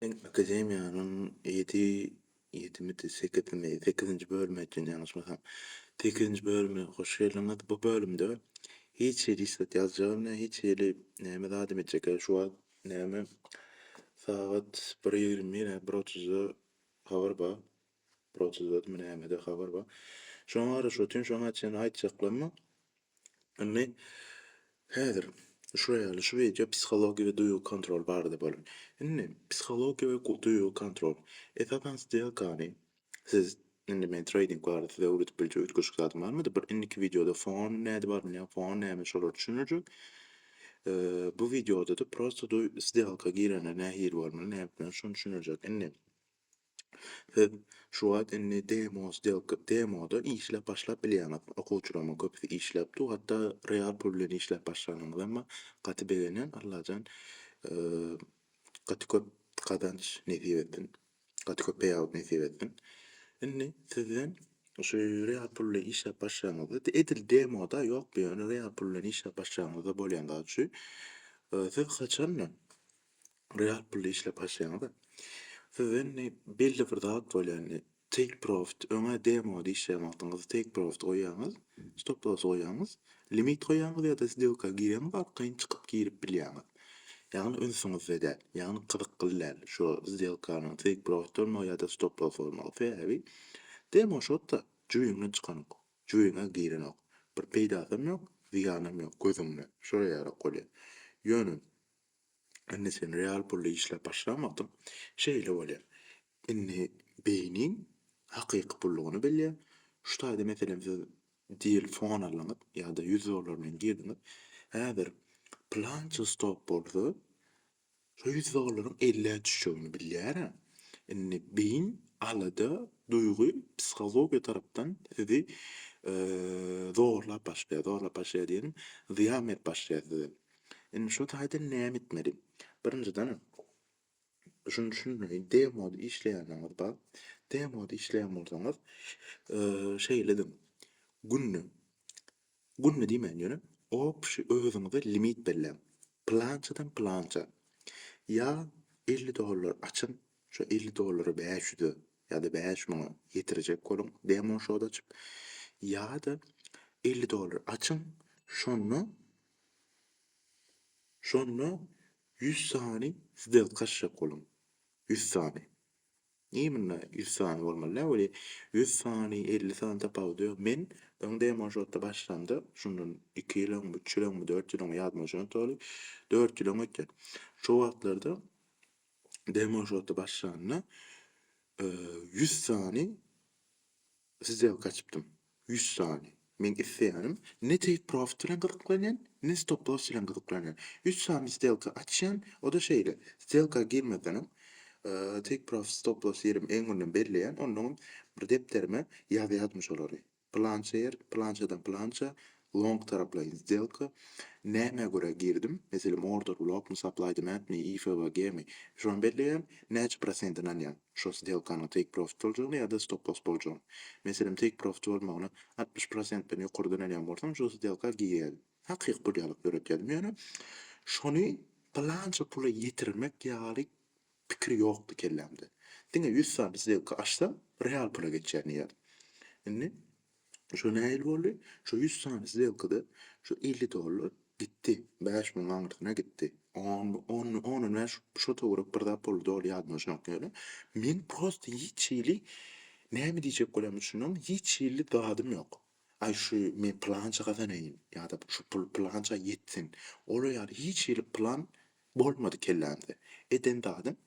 Men akademiýanyň ýedi, ýedimidi, sekizimi, sekizinji bölümi ekeni ýalňyşmasam. Sekizinji bölüme hoş geldiňiz. Bu bölümde hiç hili islet ýazjagym ne, hiç hili näme zadam etjek. Hä, şu wagt näme, sagat bir ýigrimi, hä, bir otuzda habar bar. Proceduradmy nämede habar bar. Şoňa garaşyp otyryn şoňa çen aýtjaklarmy. Indi häzir şular ýaly şu wideo psihologiýa we duýgy kontrol barada bolar. Indi psihologiýa we duýgy kontrol. Esasan stelkany siz indi men treýding barada size öwredip biljek üýtgeşik zadym barmydy. Bir indiki wideoda fon näde bar bilýän fon näme şolary düşündirjek. Bu wideoda-da prosta stelka girende nähili bolmaly näme etmeli şony düşündirjek. Indi Siz şu wagt indi demo stelka, demoda işläp başlap bilýäňiz. Okuwçylaryň köpüsi işläp dur, hatda real pul bilen işläp başlanyňyz emma gaty begenýän. Allajan gaty köp gazanç nesip etsin. Gaty köp peýawuk nesip etsin. Indi sizden şu real pul bilen işläp başlaňyzda, edil demoda ýok bu ýöne real pul bilen işläp başlaňyzda bolýan zat şu. Siz haçandan real pulda işläp başlaýaňyz-a, sizde indi belli bir zat bolýar, indi take profit, öňe demo işleýän wagtyňyzda take profit goýýaňyz, stop loss goýýaňyz, limit goýýaňyz ýa-da sdelka girýäňiz, arkaýyn çykyp girip bilýäňiz. Ýagny ünsüňizde däl, ýagny gyzykly däl şu sdelkanyň take profit bolmagy ýa-da stop loss bolmagy. Sebäbi demo şotda jübiňden çykanok, jübiňe girenok, bir peýdasam ýok, zyýanam ýok gözüňde, şolara ýarak bolýar. Ýöne Indi sen real pully işläp başlamadym. Şeýle bolýar. Indi beýniň hakyky pullugyny bilýär. Şu taýda meselem siz deal fon aldyňyz ýa-da ýüz dollar bilen girdiňiz. Häzir pylança stop bolsa şu ýüz dollaryň ellä düşjegini bilýär-ä. Indi beýin alada, duýgy, psihologiýa tarapdan sizi zorlap başlaýar. Zorlap başlaýar diýenim, zyýan berip başlaýar size. Indi şu taýdan näme etmeli? Birinjiden, şuny düşünmeli, demode işleýändigiňiz bar. Demode işleýän bolsaňyz, şeýle ediň, günde, günde diýmän, ýöne obşi özüňize limit belläň. Plançadan plança ýa elli dollar açyň, şu elli dollary bäş ýüze ýa-da bäş müňe ýetirjek boluň, demoshoda açyp, ýa-da elli dollar açyň, şonda Şonda ýüz sany sdelka açjak boluň. Ýüz sany. Niye munda ýüz sany bolmaly däl weli ýüz sany elli sany tapawudy ýok. Men öň demo şotda başlamda şundan iki ýyl öňmi üç ýyl öňmi dört ýyl öňmi ýadyma düşen doly dört ýyl öň öten. Şo wagtlarda demo şotda başlanda ýüz sany Size gaçypdym. Ýüz sany. Meň isleýänim, ne take-profit bilen gyzyklanýan, ne stop-loss bilen gyzyklanýan. Ýüz sany stelka açýan, o-da şeýle, stelka girmesenem, take-profit, stop-loss ýerimi öňünden belleýän, onnoňam bir depderime ýazýardym şolary. Pylança ýer, pylançadan pylança, Long taraplaýyn sdelka nämä görä girdim meselem order blok my supply demand mi ifwg mi şony belleýän näçe prosent ynanýaň şo sdelkanyň take profit boljagyna ýada stop loss boljagyna meselem take profit bolmagyna altmyş prosentden ýokary dönelýän bolsaň şo sdelka girýäýiň hakyky pul ýalyk döretýädim ýöne şony pylança pula ýetirmek ýaly pikir ýokdy kellämde diňe ýüz sany sdelka açsam real pula geçýär diýýädim indi Şo nähili boldy? Şo ýüz sany sdelkada şo elli dollar gitdi, bäş müň aňyrsyna gitdi. On, on, on näme ş- şo töwerek bir zat boldy, doly ýadymda şunak ýaly. Men prosta hiç hili näme diýjek bolýanymy düşünmän, hiç hili dadym ýok. Aý şu men pylança gazanaýyn ýa-da şu pul pylança ýetsin. Olar ýaly hiç hili plan Bolmady kellämde. Eden zadym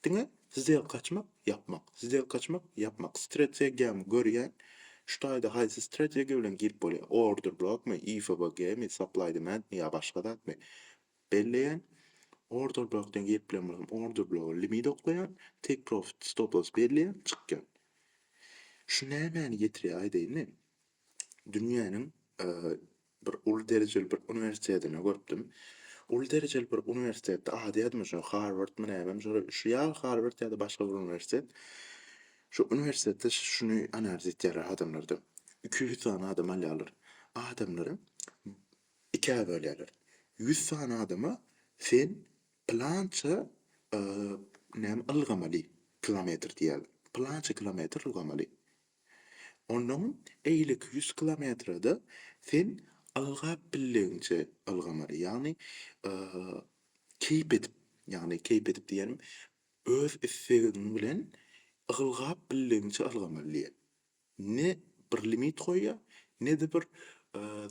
diňe zdelka açmak, ýapmak, zdelka açmak, ýapmak. Strategiýamy görýän, şu taýda haýsy strategiýa bilen girip bolýar, order blokmy, IFBG mi, supply demand mi ýa başga zatmy, belleýän. Order blokdan girip bilen bolsam, order bloga limit oklaýan, take profit, stop loss belleýän, çykýan. Şu nämäni getirýär aýdaýyny, dünýäniň Bir uly derejeli bir uniwersitetini görüpdim. Uly derejeli bir uniwersitetde ady ýadyma düşmedi, Harwardmy nämemi şo şu ýa Harward ýa-da başga bir uniwersitet. Şu uniwersitetde şuny analiz etýärler adamlardan. Iki ýüz sany adam alýarlar. Adamlary ikä bölýärler. Ýüz sany adama sen pylança näme ylgamaly, kilometr diýýärler. Pylança kilometr ylgamaly. Onnoň eýleki ýüz kilometrede sen ylgap bildigiňçe ylgamaly. Ýagny keýp edip, ýagny keýp edip diýenim, öz islegiň bilen ylgap bildigiňçe ylgamaly diýýär. Ne bir limit goýýar, ne-de bir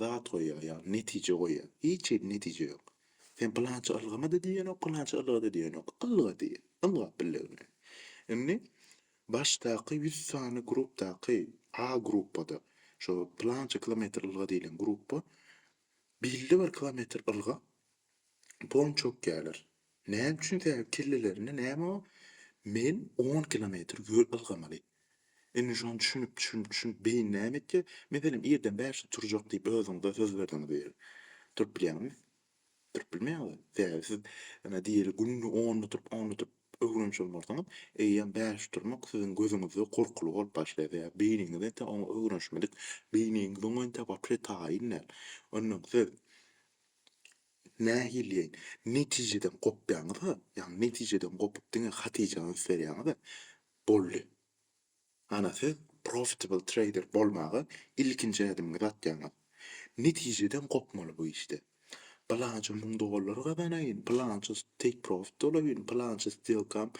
zat goýýar, ýagny netije goýýar. Hiç hili netije ýok. Sen pylança ylgama-da diýenok, pylança ylga-da diýenok. Ylga diýýär, ylgap bildigiňe. Indi Başdaky ýüz sany grupdaky A gruppada, şo pylança kilometr ylga diýlen grupba belli bir kilometr ylga pon çökýärler. Näme üçin? Sebäbi kellelerinde näme bar? Men on kilometr ýöl ylgamaly. Indi şony düşünip, düşünip, düşünip beýin näme etýär? Meselem, irden bäşde turjak diýip özüňize söz berdiňiz diýeli. Turup bilýäňizmi? Durup bilmeýäňiz we sebäbi siz ine diýeli günde on oturyp on oturyp öwrenişi bolmarsyňyz, eýýäm bäş oturmak siziň gözüňizde gorkuly bolup başlaýar we beýniňiz entek oňa öwrenişmedik, beýniňiz oňa entek wapiýe taýyn däl. Ondan siz nähiliýeýin netijeden gopýaňyz-a, ýagny netijeden gopup diňe hatyjany üstberýäňiz-ä, boldy. Ana siz profitable trader bolmaga ilkinji ädimiňizi atýaňyz. Netijeden gopmaly bu işde. Pylança müň dollar gazanaýyn, pylança take profit bolaýyn, pylança stelkam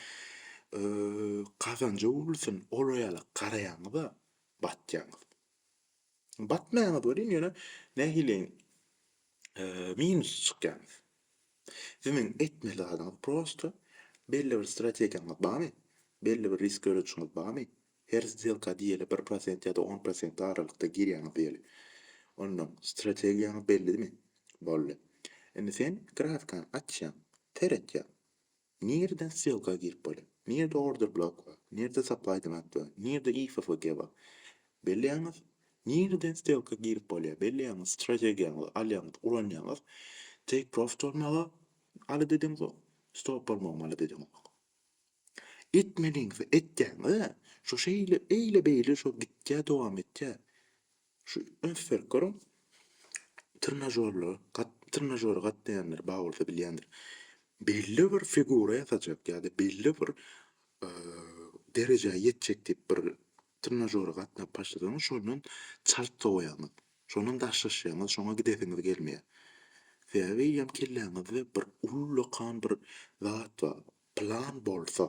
gazanja öwrülsin, olar ýala garaýaňyza batýaňyz. Batmaýaňyz welin ýöne nähiliň minusda çykýaňyz. Siziň etmeli zadyňyz prosta, belli bir strategiýaňyz barmy, belli bir risk görüşiňiz barmy, her sdelka diýeli bir prosent ýa-da on prosent aralykda girýäňiz diýeli. Onnoň strategiýaňyz bellidimi? Boldy. Indi sen grafikany açýaň, seretýäň. Nireden ssylka girip bolar? Nirede order blok bar? Nirede supply demand bar? Nirede IFFG bar? Belleýäňiz? Nireden ssylka girip bolýar? Belleýäňiz? Strategiýaňyzy alýaňyz, ulanýaňyz. Take profit bolmagy alada ediňizok. Stop bolmagam alada ediňizok. Etmeliňizi etýäňiz-ä. Şo şeýle, eýle-beýle şo gitýär, dowam etýär. Şu üns berip görüň, trinažorlara gat trinažora gatnaýanlar bar bolsa bilýändir. Belli bir figura ýasajak ýa-da belli bir derejä ýetjek diýip bir trinažora gatnap başlasaňyz, şondan çalt sowaýaňyz. Şondan daşlaşýaňyz, şoňa gidesiňiz gelmeýär. Sebäbi ýa kelläňizde bir ullakan bir zat bar, plan bolsa,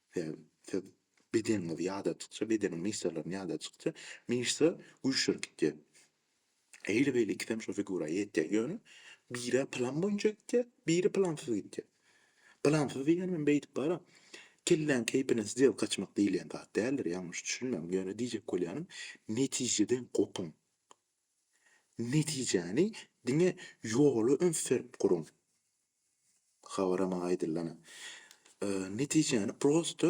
Sebäbi siz bedeniňizi ýadatdykça, bedeniň myşsalaryny ýadatdykça myşsa güýçlenip gidýär. Eýle beýle ikisem şo figura ýetýär. Ýöne biri plan boýunça gidýär, biri plansyz gidýär. Plansyz diýýänim hem beýdip bara kelläň keýpine sdelka açmak diýilýän zat däldir, ýalňyş düşünmäň. Ýöne diýjek bolýanym, netijeden gopuň. Netijäni diňe ýola üns berip guruň. Habara maňa aýdyllana netijäni prosta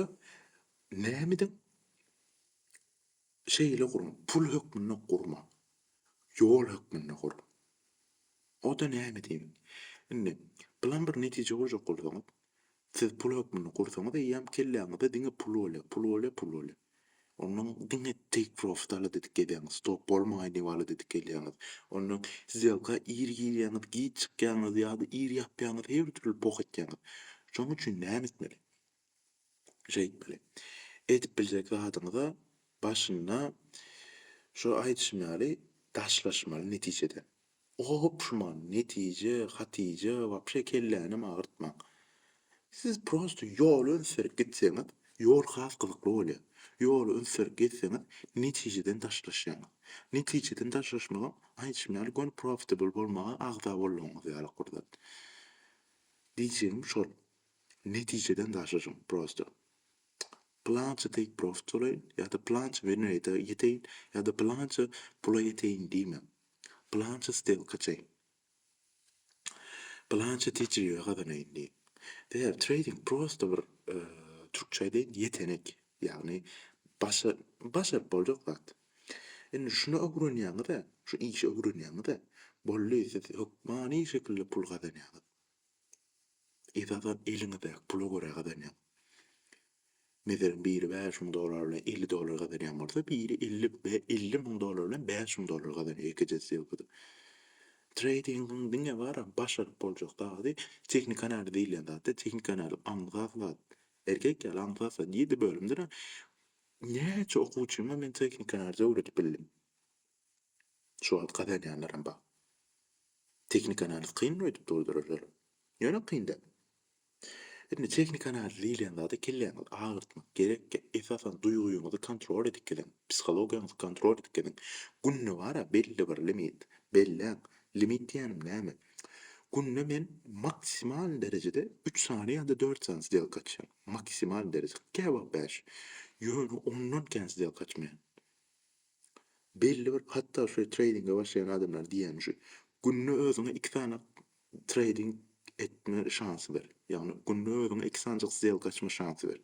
nämeden şeýle gurma, pul hökmünde gurma, ýol hökmünde gur. O-da näme diýmek? Indi plan bir netije goýjak bolsaňyz, siz pul hökmünde gursaňyz eýýäm kelläňizde diňe pul bolýar, pul bolýar, pul bolýar. Ondan diňe take profit aladydyk gelýäňiz, stop bolmaýyn diýip aladydyk gelýäňiz. Ondan sdelka ir girýäňiz, giç çykýaňyz ýa-da ir ýapýaňyz, her türli poh etýäňiz. Şoň üçin näme etmeli? Şeýtmeli. Edip biljek zadyňyza başynda şo aýdyşym ýaly daşlaşmaly netijeden. Gopşman netije Hatije wapşe kellänem agyrtmaň. Siz prosto ýoly ünsleri gitseňiz ýol has gyzykly bolýa. Ýoly ünsleri gezseňiz netijeden daşlaşýaňyz. Netijeden daşlaşmagam aýdyşym ýaly göni profitable bolmaga agza boldygyňyz ýaly gurzat. Diýjegim şol netijeden daşlaşyň prosto. Pylança take profit bolaýyn ýa-da pylança win rate-e ýeteýin ýa-da pylança pula ýeteýin diýmäň. Planşa stelka çek. Planşa tejribe gazanaýyn diýip. Sebäbi treýding prosta bir türkçe aýdaýyn ýetenek. Ýagny başa başaryp boljak zat. Indi şuny öwrenýäňiz-ä, şu işi öwrenýäňiz-ä, boldy siz hökmany şekilde pul gazanýaňyz. Esasam eliňizdäki pula görä gazanýaň. Meselem, biri bäş müň dollar bilen elli dollar gazanýan bolsa, biri elli be elli müň dollar bilen bäş müň dollar gazanýar ikije sýelkada. Treýdingiň diňe baram başaryp boljak zady tehnik analiz diýilýän zatda, tehnik analiz aňsat zat. Erkek ýaly aňsat zat. Ýedi bölümdirem näçe okuwçyma men tehnik analizi öwredip bildim. Şu wagt gazanýanlaram bar. Tehniki analiz kynmy öýdüp durdurarlar? Ýöne kyn däl. Indi tehniki analiz diýilýän zada kelläňizi agyrtmak gerekkä, esasan duýgyňyzy kontrol edip geziň, psihologiýaňyzy kontrol edip geziň. Günde bara belli bir limit belläň. Limit diýýänim näme? Günde men maksimal derejede üç sany ýa-da dört sany sdelka açýan. Maksimal dereje, käwagt bäş. Ýöne ondan kän sdelka açmaýan. Belli bir hatda şu treýdinge başlaýan adamlar diýýän şu günde özüňe iki sany treýding etme şansy ber. Ýagny günde özüňe iki sanjyk sdelka açma şansy ber.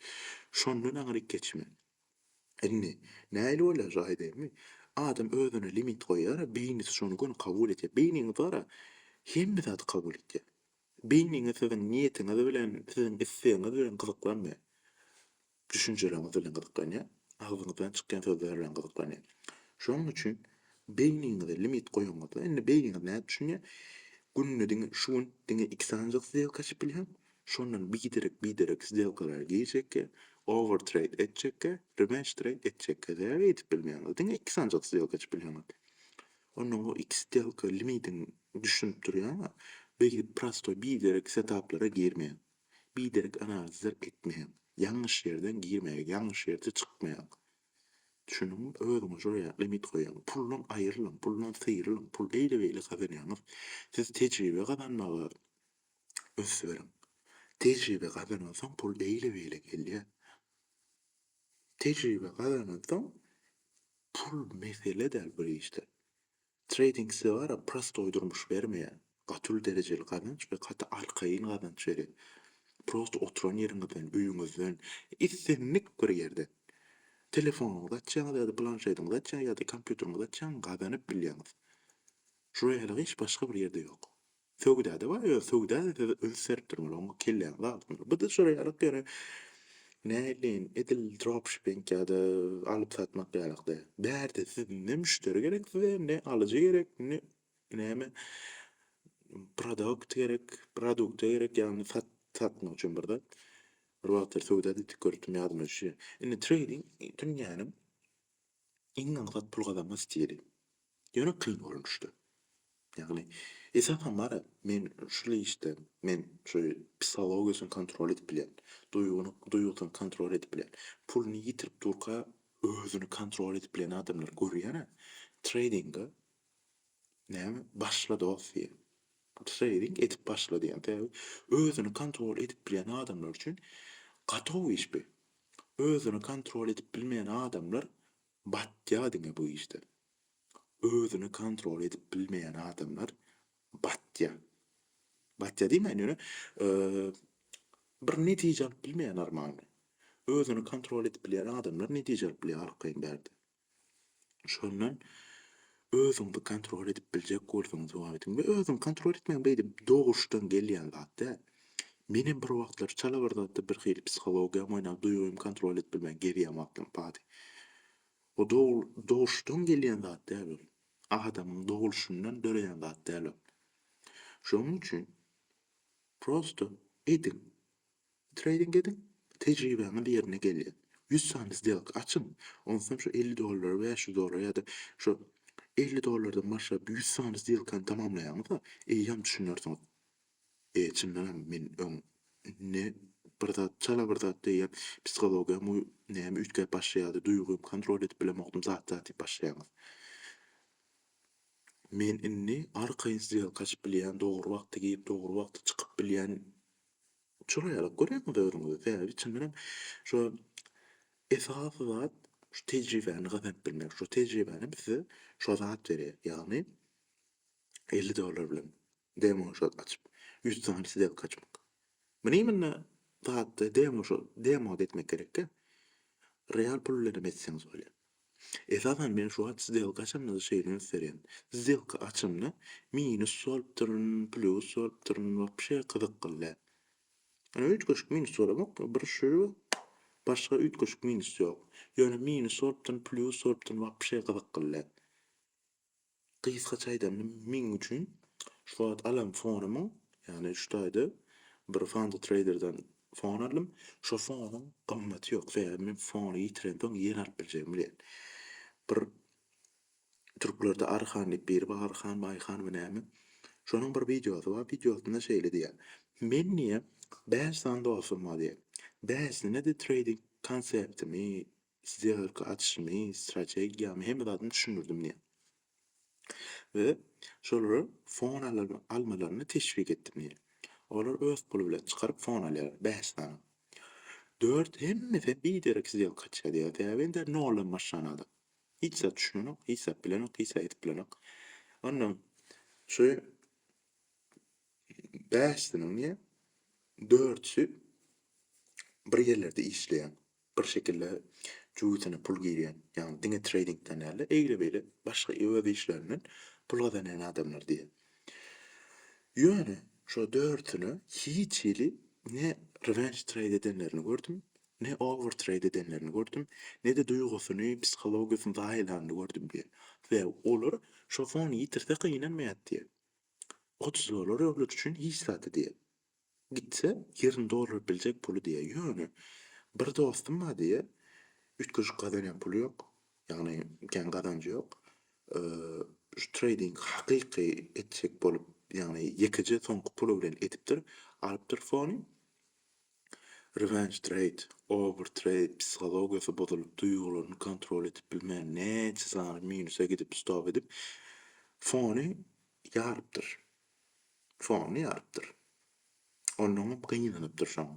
Şondan aňryk geçme. Indi nähili bolýar şu aýdaýynmy? Adam özüne limit goýýara beýnisi şony göni kabul etýär. Beýniňiz bara hemme zady kabul etýär. Beýniňiz siziň niýetiňiz bilen, siziň islegiňiz bilen gyzyklanmaýar. düşünjeleriňiz bilen gyzyklanýar, agzyňyzdan çykýan sözler bilen gyzyklanýar. Şonuň üçin beýniňize limit goýanyňyzda, indi beýniňiz nädip düşünýär, günde diňe şu gün diňe iki sanjak sdelka açyp bilýän, şondan biderek, biderek sdelkalary girjekkä, over treýd etjekkä, rewenge treýd etjekkä däl edip bilmeýäňiz, diňe iki sanjak sdelka açyp bilýäňiz. Ondan o iki sdelka limidiň düşünip durýaňa, beýdip prostoý biderek setaplara girmeýäň. Biderek analizler etmäň. Ýalňyş ýerden girmäge, ýalňyş ýerde çykmaň. Düşündiňmi? Özüňe şol ýaly limit goýaň. Puldan aýrylyň, puldan syrylyň. Pul eýle-beýle gazanýaňyz. Siz tejribe gazanmaga üns beriň. Tejribe gazanansoň pul eýle-beýle gelýär. Tejribe gazanansoň pul mesele däl bir işde. Trading size bara prostoý durmuş bermeýär, gaty uly derejeli gazanç we gaty arkaýyn gazanç berýär. Prosto oturan ýeriňizden, öýüňizden, islendik bir ýerden, telefonuňyzy açýaňyz ýa-da planşetiňizi açýaňyz ýa-da kompýuteriňizi açýaňyz gazanyp bilýäňiz. Şu reýhana hiç başga bir ýerde ýok. Söwdada bar ýöne söwdada siz üns berip durmaly oňa kelläňizi agyrtmaly. Bu dysjaraýalyk ýöne näleýin edil dropshipping ýa-da alyp satmak ýalyk däl. Bärde siz ne müşderi gerek size ne alyjy gerek ne näme produkt gerek produkt gerek ýagny sat satmak üçin bir zat. Bir wagtlar söwda diýdik göripdim ýadyma düşýä. Indi treýding dünýäniň iň aňsat pul gazanma stili. Ýöne kyn bolmuşdy. Ýagny, esasan bar-a, men şul işde, men şu psihologiýasyny kontrol edip bilýän, duýgyny, duýgusyny kontrol edip bilýän, puluny ýitirip durka özüni kontrol edip bilýän adamlary görýän-ä. Treýdinga näme, başla dost diýýän. Treýding edip başla diýýän. Sebäbi özüni kontrol edip bilýän adamlar üçin gatow iş bi. Özüni kontrol edip bilmeýän adamlar Batýa diňe bu işden. Özüni kontrol edip bilmeýän adamlar batýa. Batýa diýmäýin ýöne bir netije alyp bilmeýä normalny. Özüni kontrol edip bilýän adamlar netije alyp bilýä arkaýyn bärde. Şondan Özüňizi kontrol edip biljek bolsaňyz jogap ediň we özüňi kontrol etmegiň beýdi doguşdan gelýän zat däl. Menem bir wagtlar çala bir zatda bir hili psihologiýam oýnap duýgymy kontrol edip bilmän gerýän wagtlarym bady. O doguşdan gelýän zat däl ol. Adamyň dogulşyndan döreýän zat däl ol. Şonuň üçin prosta ediň. Treýding ediň, tejribäňiz ýerine gelýär. Ýüz sany sdelka açyň, onsoň şu elli dollara, bäş ýüz dollara ýa-da şu elli dollardan başlap ýüz sany sdelkany tamamlaýaňyz-da, eýýäm düşünersiňiz, E, çyndan hem men öň indi bir zat, çala bir zat diýýän psihologiýam u, näme üýtgäp başlaýardy, duýgym, kontrol edip bilemokdym, zat-zat diýip başlaýaňyz. Men indi arkaýyn sdelka açyp bilýän, dogry wagtda girip, dogry wagtda çykyp bilýän Çyraýlyk görýäňiz özüňizi sebäbi içinden şu esasy zat şu tejribäni gazanyp bilmek. Şu tejribänem size şu zat berýär. Ýagny elli dollar bilen demo şot açyp ýüz sany sdelka açmak. Muny imенно zatda demo şo demoda etmek gerekkä. Real pul bilenem etseňiz bolýar. Esasan men şu wagt sdelka açamda-da şeýle üns berýän. Sdelka açamda minus bolupdyryn, plýus bolupdyryn, wapşe gyzyklyl-dä. Ýöne üýtgeşik minus bolamok, bir şu, başga üýtgeşik minus ýok. Ýöne minus bolupdyryn, plýus bolupdyryn, wapşe gyzyklyl-dä. Gysgaça aýdamda meň üçin şu wagt alan fonumyň, ýagny şu taýda bir Fanta Trader'dan fon aldym, şo fonuň gymmaty ýok, sebäbi men fony ýitirensoň ýene alyp biljegimi bilýän. Bir türklerde Aryhan diýip biri bar, Aryhanmy, Aýhanmy näme, şonuň bir wideosy bar, wideosynda şeýle diýýär, Men diýýär, bäş sany dostum bar diýýär, bäşisine-de treýding konseptimi, Size yrky açyşymy, strategiýamy, hemme zadymy düşündirdim diýýär. We şolara fon almalaryny teşwik etdim diýýär. Olar öz puly bilen çykaryp fon alýarlar, bäş sany. Dört, hemmesi biderek sdelka açýar diýýär. Sebäbi indi noldan başlan adam. Hiç zat düşünenok, hiç zat bilenok, hiç zat edip bilenok. Ondan şu bäşisiniň diýýär, dörtüsi bir ýerlerde işleýän. bir şekilde jübüsine pul girýän, ýagny diňe treýdingden däl-de, eýle-beýle başga öz işlerinden pul gazanýan adamlar diýýär. Ýöne şo dördüsine hiç hili ne rewenge trade edenlerini gördüm, ne over trade edenlerini gördüm, ne-de duýgusyny, psihologiýasyny zaýalanyny gördüm diýýär. We olar şo fony ýitirse gynanmaýar diýýär. Otuzlylar öwlüri üçin hiç zat diýýär. Gitse, ýerini dolduryp biljek puly diýýär. Ýöne, bir dostum bar diýýär, üýtgeşik gazanýan puly ýok. Ýagny, kän gazanjy ýok. Şu treýdingi hakyky etjek bolup, ýagny ýekeje soňky puly bilen edipdir. Alypdyr fony. Revenge trade, over trade psihologiýasy bozulyp, duýgularyny kontrol edip bilmän, näçe sany minuse gidip, stop edip, fony ýarypdyr. fonyny ýarypdyr. Onnoňam gynanypdyr şoň.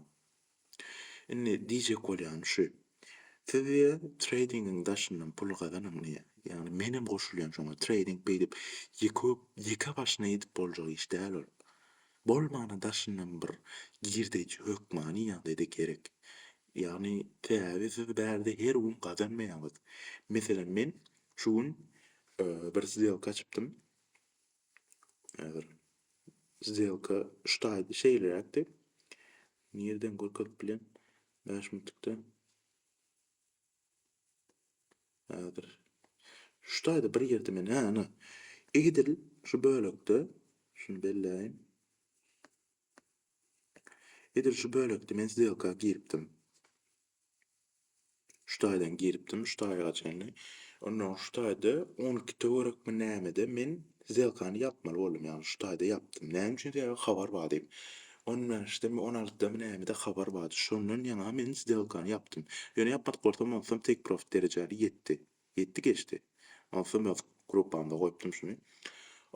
Indi diýjek bolýany şu, siz diýýär, treýdingiň daşyndan pul gazanyň diýýär. Ýagny menem goşulýan şoňa. Treýding beýdip ýeke ýeke başyna edip boljak iş däl ol. Bolmana daşyndan bir girdeji hökmany ýagdaýda gerek. Ýagny sebäbi siz bärde her gün gazanmaýaňyz. Meselem men şu gün bir zlýowka açypdym. Häzir sdelka şu taýda şeýleräkdi. Nireden görkezip bilen? 5 minutda. Häzir şu taýda bir ýerde men hä ana. Edil şu bölekde şunu belläýin. Edil şu bölekde men sdelka giripdim. Şu taýdan giripdim, şu taýga çenli. Onnoň şu taýda on iki töwerekmi nämede men zyýelkany ýapmaly boldum, ýagny şu taýda ýapdym. Näme üçin? Sebäbi habar bar diýip. On bäşdemi, on altydamy nämede habar bardy. Şondan ýaňa men zyýelkany ýapdym. Ýöne ýapmadyk bolsam, onsam take profit derejäni ýetdi. Ýetdi geçdi. Onsam öz gruppamda goýupdym şuny.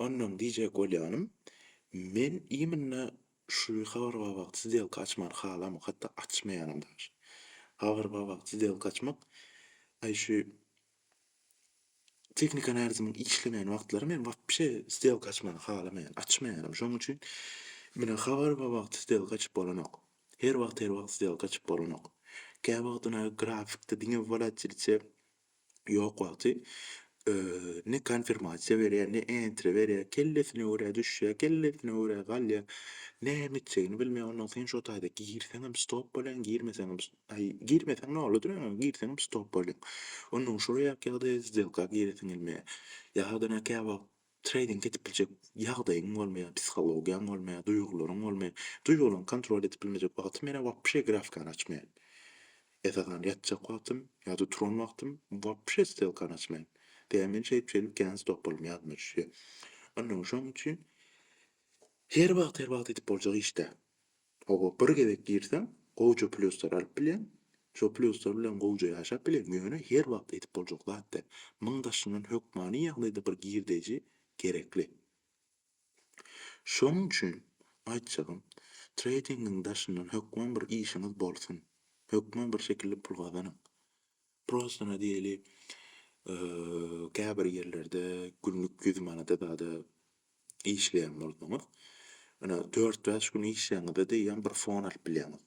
Onnoň diýjek bolýanym, men imенно Şu habar babat zdelka açmany halamok hatda açmaýanam daş. Habar babat zdelka açmak aý şu tehnika analizimiň işlemeýän wagtlary men wapşe zdelka açmany halamaýan açmaýanam şoň üçin menä habar babat zdelka açyp bolanok her wagt her wagt zdelka açyp bolanok käwagtynä grafikde diňe wolatilite ýok wagty ne konfirmasiýa berýär, ne enter berýär, kellesine görä düşýär, kellesine görä galýar. Näme etjegini bilmeýär. Ondan sen şo taýda girseňem stop bolýaň, girmeseňem aý, girmeseň noladyr ýöne girseňem stop bolýaň. Ondan şo ýaky ýagdaýa sdelka giresiň gelmeýär. Ýa-da käwagt Treýding edip biljek ýagdaýyň bolmaýar, psihologiýaň bolmaýar, duýgularyň bolmaýar. Duýgularyňy kontrol edip bilmejek wagty menä wapşe grafikany açmaýan. Esasan ýatjak wagtym ýa-da turan wagtym wapşe stelkany açmaýan. Sebäbi men şeýdip şeýdip kän stopalym ýadyma düşýär. Onnoň şoň üçin her wagt her wagt edip boljak iş däl. Toba bir gezek girseň gowja plýuslar alyp bilýäň, şo plýuslar bilen gowja ýaşap bilýäň, ýöne her wagt edip boljak zat däl. Muň daşyndan hökmany ýagdaýda bir girdeji gerekli. Şoň üçin aýtjagym, treýdingiň daşyndan hökman bir işiňiz bolsun, hökman bir şekilli pul gazanyň. Prosta na diýeli, käbir ýerlerde günlük ýüz manada zada işleýän bolsaňyz, ine, dört-bäş gün işleýäňiz-de eýýäm bir fon alyp bilýäňiz.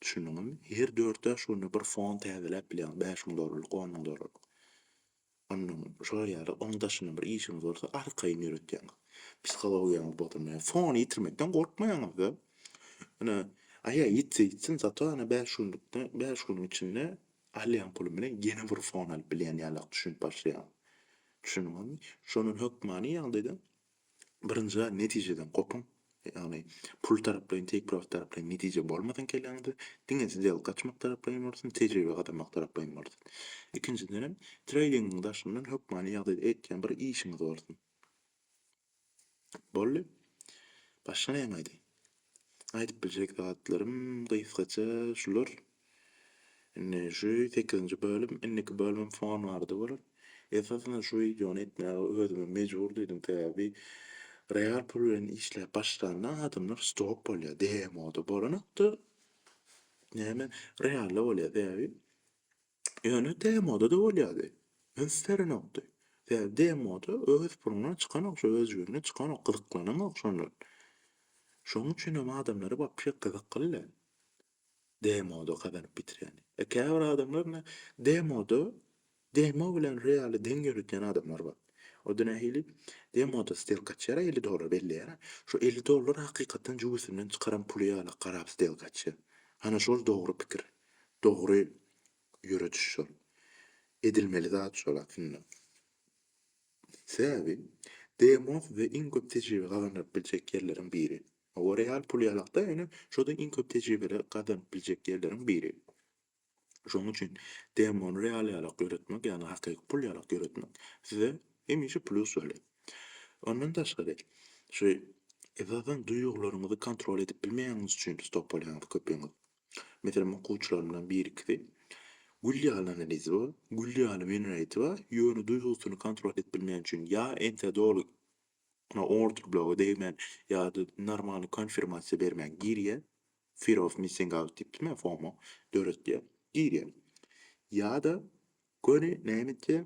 Düşündiňizmi? Her dört-bäş günde bir fon täzeläp bilýäňiz, bäş müň dollarlyk, on müň dollarlyk. Onuň şolar ýaly oň daşyndan bir işiňiz bolsa arkaýyn ýöretýäňiz. Psihologiýaňyz bozulmaýar. Fony ýitirmekden gorkmaýaňyz-da. Ine, aýa ýitse ýitsin, zato ene bäş günlükde, bäş günüň içinde alýan pulum bilen ýene bir fon alyp bilýän ýalak düşünip başlaýaryn. Düşündiňizmi? Şonuň hökmany ýagdaýda Birinjiden, netijeden gopuň. Ýagny, pul taraplaýyn, teýpirabat taraplaýyn netije bolmasyn kelläňizde, diňe sdelka açmak taraplaýyn bolsun, tejribe gazanmak taraplaýyn bolsun. Ikinjiden hem, treýdingiň daşyndan hökmany ýagdaýda etýän bir işiňiz bolsun. Boldy. Başga näme aýdaýyn? Aýdyp biljek zatlarym gysgaça şular. Indi şu sekizinji bölüm, indiki bölümem fon barada bolar. Esasynda şu wideony etmäge özümi mejbur duýdum, sebäbi real pul bilen işläp başlanda adamlar stop bolýar, demoda bolanokda näme realda bolýar, sebäbi Ýöne demoda-da bolýardy. Üns berenokdy. Sebäbi demoda öz puluna çykanok, şu öz jübüne çykanok, gyzyklananok şondan. Şonuň üçin hem adamlara wapşe gyzykly-da demoda gazanyp bitirýän. E, käbir adamlar ine demoda, demo bilen realy deň ýöretýän adamlar bar. O da nähili? Demoda stelka açýar-a, elli dollar belleýär-ä. Şu elli dollar hakykatdan jübüsinden çykaran puly ýaly garap stelka açýar. Hany şol dogry pikir. Dogry ýörediş şol. Edilmeli zat şol aslynda. Sebäbi DMOF we iň köp tejribe gazanylyp biljek ýerleriň biri. Hawa real pul ýalakda ýöne şoda iň köp tejribeler gazanyp biljek ýerleriň biri. Şonuň üçin DMOny real ýalak ýöretmek ýagny hakyky pul ýalak ýöretmek size hemişe plus bolýar. Ondan daşgary şu esasan duýgularyňyzy kontrol edip bilmeýäňiz üçin stop bolýaňyz köpüňiz. Meselem, okuwçylarymdan birikisi, Gül ýaly analizi bar, gül ýaly menreti bar, ýöne duýgusyny kontrol edip bilmän üçin ýa entä doly ýa orderbloga degmän ýa-da normalny konfirmasiýa bermän girýär, fear of missing out diýip diýme, FOMO, döretýär, girýär. Ýa-da göni näme etýär?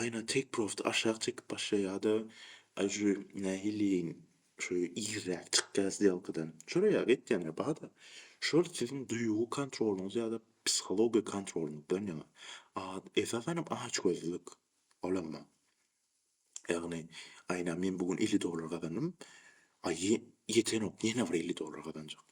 Aýna tek prosta aşak çekip başlaýada ajy nähiliýeýin şu irräk çykýa sdelkadan. Şolar ýaly etýänler barda. Şol siziň duýgy kontrolyňyz ýada psihologiýa kontrolyňyzdan ýaňa. A esasanam açgözlülik. Olam bar. Ýagny aýna men bu gün elli dollar gazandym. Aý ýetenok ýene bir elli dollar gazanjak.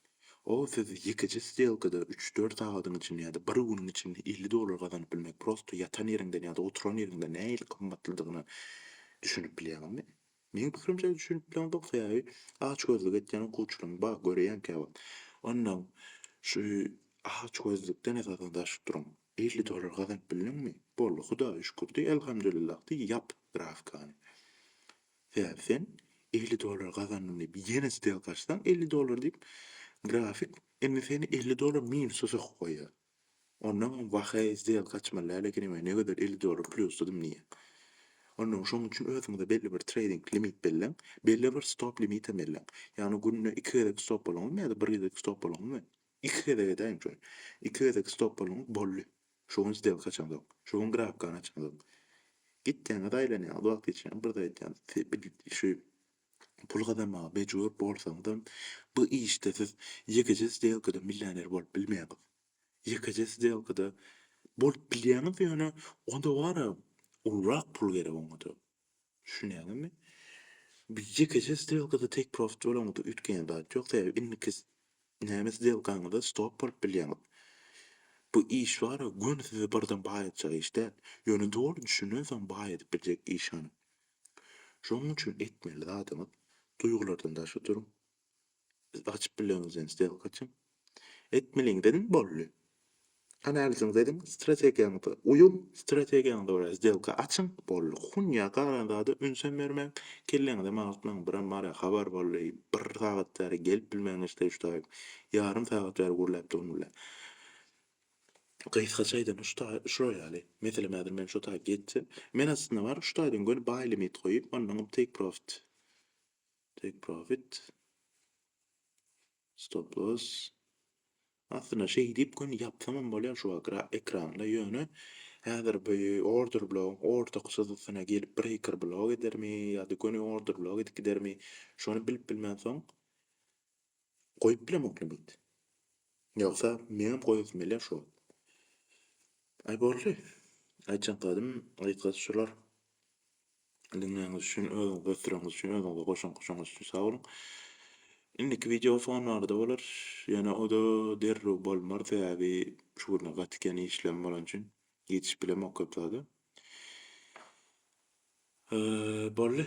O siz ýekeje stelkada üç-dört sagadyň içinde ýa-da bir günüň içinde elli dollar gazanyp bilmek prosto ýatan ýeriňden ýa-da oturan ýeriňden nähili gymmatlydygyna düşünip bilýäňizmi? Meň pikirimçe düşünip bileňok sebäbi açgözlük etýän okuwçylaň bar görýän käwagt. Onda şu açgözlükden esasan daşyp duruň. Elli dollar gazanyp bildiňmi? Boldy hudaýa şükür diý elhamdülillah diý ýap grafkany. Sebäbi sen elli dollar gazandyň diýip ýene stelka açsaň elli dollar diýip grafik indi seni elli dollar minusa sokup goýýar. Onnoň hem wah heý stelka açmaly däl ekenim heý ne gözel elli dollar plýusdadym diýýäň. Onnoň şoň üçin özüňize belli bir treýding limit belläň, belli bir stop limitem belläň. Ýagny günde iki gezek stop boluňyzmy ýa-da bir gezek stop boluňyzmy? Iki gezek edäýiň şony. Iki gezek stop boluňyz boldy. Şu gün stelka açansoň, şu gün grabkany açansoň, gitýäňiz, aýlanýaňyz, wagt geçýäňiz, bir zat aýdýaňyz. Şu pul gazanmaga mejbur bolsaňyzam, bu işde siz ýekeje stelkada millioner bolup bilmeýäňiz. Ýekeje stelkada bolup bilýäňiz, ýöne onda bara ulurak pul gerek oňa-da. Düşünýäňizmi? Biz ýekeje sdelkada take profit bolaňda üýtgeýän zat ýok, sebäbi indiki näme sdelkaňyzda stop bolup bilýäňiz. Bu iş bar-a, göni sizi birden baýatjak iş däl, ýöne doly düşünen soň baý edip biljek iş hany. Şonuň üçin etmeli zadyňyz, duýgulardan daşda duruň, Siz açyp bileňiz ýöne stelka üçin. Etmeliňiz ediň boldy. Analiziňizi ediň, strategiýaňyza uýuň, strategiýaňyza görä stelka açyň, boldy. Hun ýa galan zada ünsem bermäň, kelleňizem agyrtmaň, birem bara habar boldy, bir sagat bäri gelip bilmän geçdi Uştaýew. Ýarym sagat bäri gürläpdugym bile. Gysgaça aýdan Uştaý şular ýaly. Meselem häzir men şo taýy geçsem, men aslynda bar Uştaýdan göni buy limit goýup, ondan take profit. Take profit. Stop loss. Aslynda şeýdip gün ýapsamam bolýar şu ekranda, ýöne häzir bu order blogyň orta çyzgysyna gelip breaker blok edermi ýa-da göni order blok edip gidermi, şony bilip bilmänsoň Goýup bilemokly mit. Ýogsa meňem goýasym gelýär şu wagt. Aý boldy. Aýtjan zadym gysgasy şular. Diňleýäňiz üçin, özüňizi ösdüreňiz üçin, özüňize goşant goşanyňyz üçin sag boluň. Indiki wideo fon barada bolar. Ýöne o-da derrew bolmar, sebäbi şu günler gaty kän işlem bolan üçin ýetişip bilemok köp zada. Boldy.